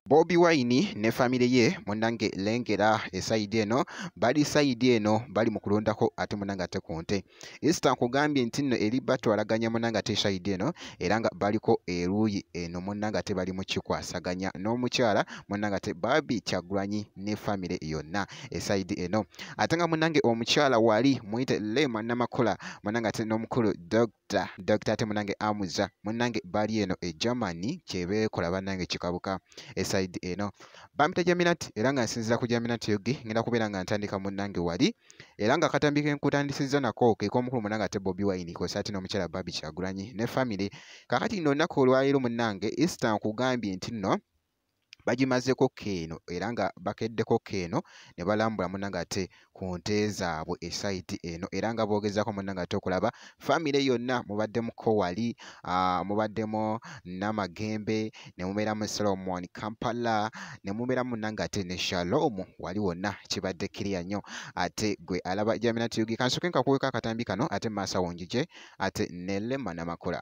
bobi wine ne famire ye munange lengera esayidi eno bali sayidi eno bali mu kulondako ate munange ate ku nte isita nkugambye nti nno eri batwalaganya munange ate esayidi eno era nga baliko eruuyi eno munange ate bali mukikwasaganya n'omukyala munange ate babi kyagwanyi ne famire yonna esayidi eno ate nga munange omukyala wali muyite lema namakola munange ate n'omukulu dog Dokita, dokita ate munange amuza munange bali eno e Germany kyebeekola banange kikabuka esaidi eno bampita Jaminat era nga nsinzira ku Jaminat yogi ngenda kubeera nga ntandika munange wali era nga akatambi ke nkutandisizza nako ke k'omukulu munange ate Bobi Wine kwosa ate n'omukyala Barbie Kyagulanyi ne famire kakati nno olunaku olwaleero munange Easter nkugambye nti nno bagimazeko keeno era nga bakeddeko keeno ne balambula muna ngate ku nte zaabwe esaidi eno era nga boogezako muna ngate okulaba famire yonna mubaddemu kowali mubaddemu namagembe ne mubeeramu solomon kampala ne mubeeramu nangate ne shalom wali wonna kibadde kiriya nnyo ate gwe alaba jaminatiyugi kansoke nkakuweka akatambi kano ate maasawo njije ate nelema namakula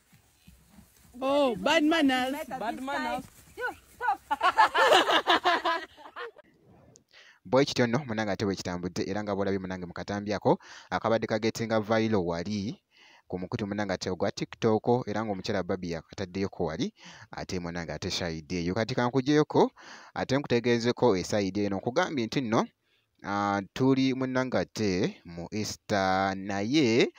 Oh, bad manners. Bad manners. bwe kityo nno munange ate bwe kitambudde era nga bwolabye munange mu katambi ako akabadde kagetinga vailo wali ku mukutu munange ate ogwa tiktok era ng'omukyala babi yakataddeyoko wali ate munange ate shayidi eyo kati kankujeyoko ate nkutegeezeko esayidi eno nkugambye nti nno uh, tuli munanga ate mu easter naye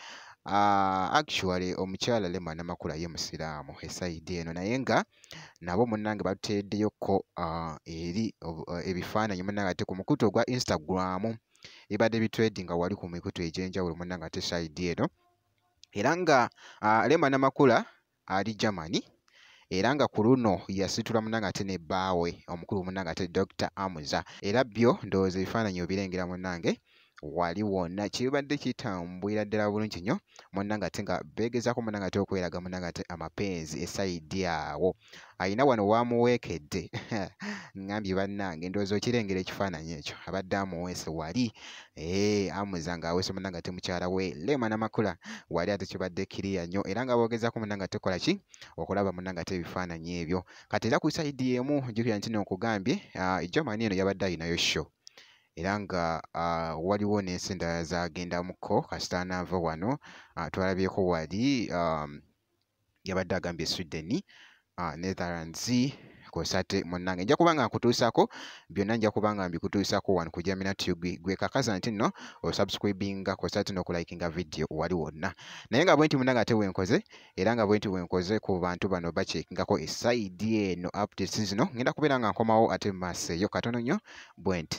uh, actually omukyala lema namakula ye musiraamu esaidi eno naye nga nabo munange batuteeddeyokko uh, eri uh, ebifaananyi munange ate ku mukutu ogwa instagram ebadde bitwedi nga wali ku mikutu egyenjawulo munange ate saidi eno era nga uh, lema namakula ali Germany era nga ku luno yasitula munange ate ne bbaawe omukulu munange ate Dr. Amuza era byo ndowooza ebifaananyi obirengera munange wali wonna kibadde kitambwira ddala bulungi nnyo munange ate nga beegezaako munange ate okweraga munange ate amapenzi esayidi awo alina wano waamuweekedde ngambye bannange ndowooza okirengera ekifaananyi ekyo abadde amuweese wali ee eh, amuza ng'aweese munna nga temukyala we leema namakula wali ate kibadde kiriya nnyo era nga boogezaako munna nga tekola ki okulaba munna nga tebifaananyi ebyo kati era ku saidi emu jukira nti nonkugambye ah, ejamani eno yabadde alinayo show era nga ah, waliwo n'ensi endala zagendamuko kasita anaava wano ah, twalabyeko wali um, yabadde agambye Sweden uh, Netherlands kosate munnange nja kuba nga nkutuusako byonna nja kuba nga mbikutuusako wano ku Jamina Tube gwe kakaza nti nno osubscribinga kosate n'okulayikinga vidiyo wali wonna naye nga bwenti munnange ate wenkoze era nga bwenti wenkoze ku bantu bano bakyekingako esaidi eno updates zino ngenda kubeera nga nkomawo ate mu maaso eyo katono nnyo bwenti